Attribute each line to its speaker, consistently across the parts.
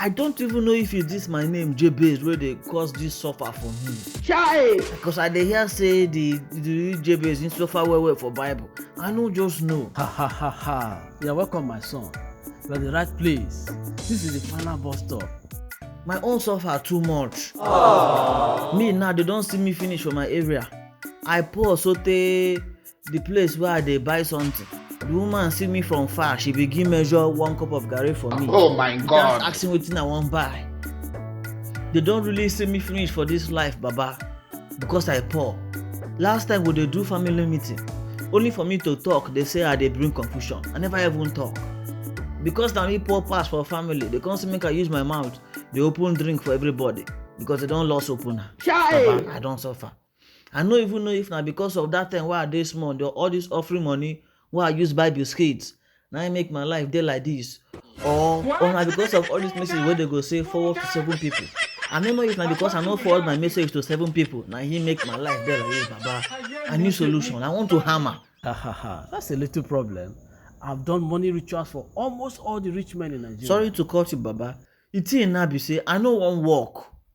Speaker 1: i don't even know if it's this my name jebez wey dey cause this suffer for me chai because i dey hear say the the jebez him suffer well well for bible i no just know ha ha ha ha you're welcome my son you're at the right place this is the final bus stop my own suffer too much Aww. me now they don see me finish for my area i poor sotey the place where i dey buy something the woman see me from far she begin measure one cup of garri for me oh my god ask me wetin i wan buy they don really see me finish for this life baba because i poor last time we dey do family meeting only for me to talk they say i dey bring confusion i never even talk because na me poor pass for family they come say make i use my mouth dey open drink for everybody because they don lost opener baba i don suffer I no even know if na because of that time wey I dey small, the all this offering money wey I use buy biscuits na im make my life dey like this or or na because of all this message wey dey go say forward to seven people. I no know if na because I no forward my message to seven people na im make my life dey like this baba. I need solution, I want to hammer. Ha ha ha, that's a little problem. I've done money rituals for almost all the rich men in Nigeria. Sorry to cut you baba, the thing now be say I no wan work.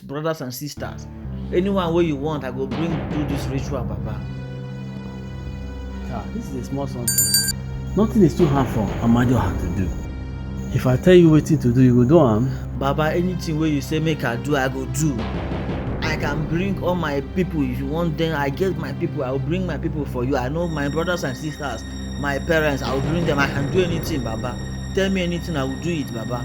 Speaker 1: brothers and sisters anyone wey you want i go bring do this ritual baba. ah this is a small something nothing is too hard for amajoha to do if i tell you wetin to do you go do am. baba anything wey you say make i do i go do i can bring all my people if you want them i get my people i will bring my people for you i know my brothers and sisters my parents i will bring them i can do anything baba tell me anything i will do it baba.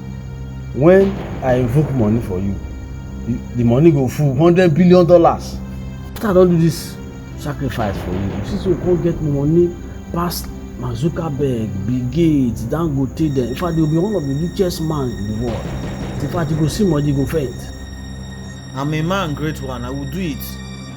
Speaker 1: when i invoke money for you the, the money go full hundred billion dollars after i don do this sacrifice for you you see say you come get money pass mark zuckerberg bill gates dangote dem in fact you be one of the richest man in the world in fact you go see money you go faint. i'm a man great one i will do it.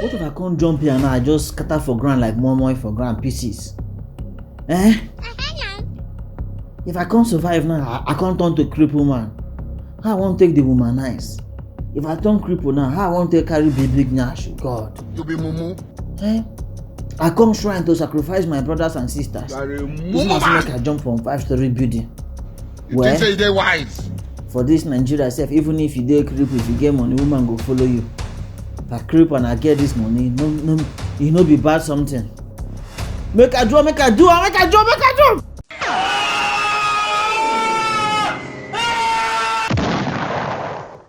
Speaker 1: What if I come jump here now? I just scatter for ground like moimoi for ground pieces. Eh? If I can't survive now, I, I can't turn to cripple man. How I won't take the woman nice. If I turn cripple now, how I won't take carry big big nash? God. You be mumu. Eh? I come shrine to sacrifice my brothers and sisters. This must make I jump from five story building. you well, think say you dey wise. for this nigeria sef even if you dey cripple if you get money woman go follow you na cripple and i get this money no no e no be bad something make i draw make i do am make i draw make i draw.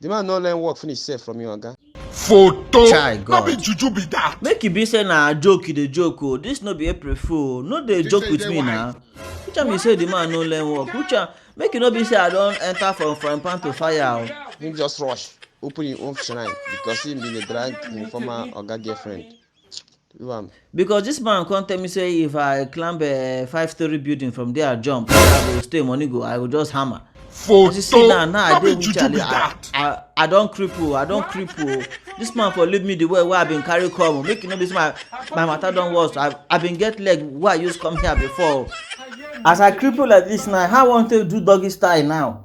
Speaker 1: The man no learn work finish sef from your oga. photo Chai, no God. be juju be that make e be say na joke you dey joke o this no be april fool o no dey joke with me na which one be say the man no learn work which one make e no be say i don enter from frying pan to fire o. Him just rush open him own shrine because him bin dey drag him former oga girlfriend. Because this man come tell me say if I climb a five story building from there jump, say I go stay money go, I go just hammer. Photo. You see now, now I dey with Charlie. I, I, I don cripple, I don cripple. This man for leave me the way wey I been carry come. Make you know this my my matter don worse. I I been get leg wey I use come here before. As I cripple like this now, how I wan take do doggy style now?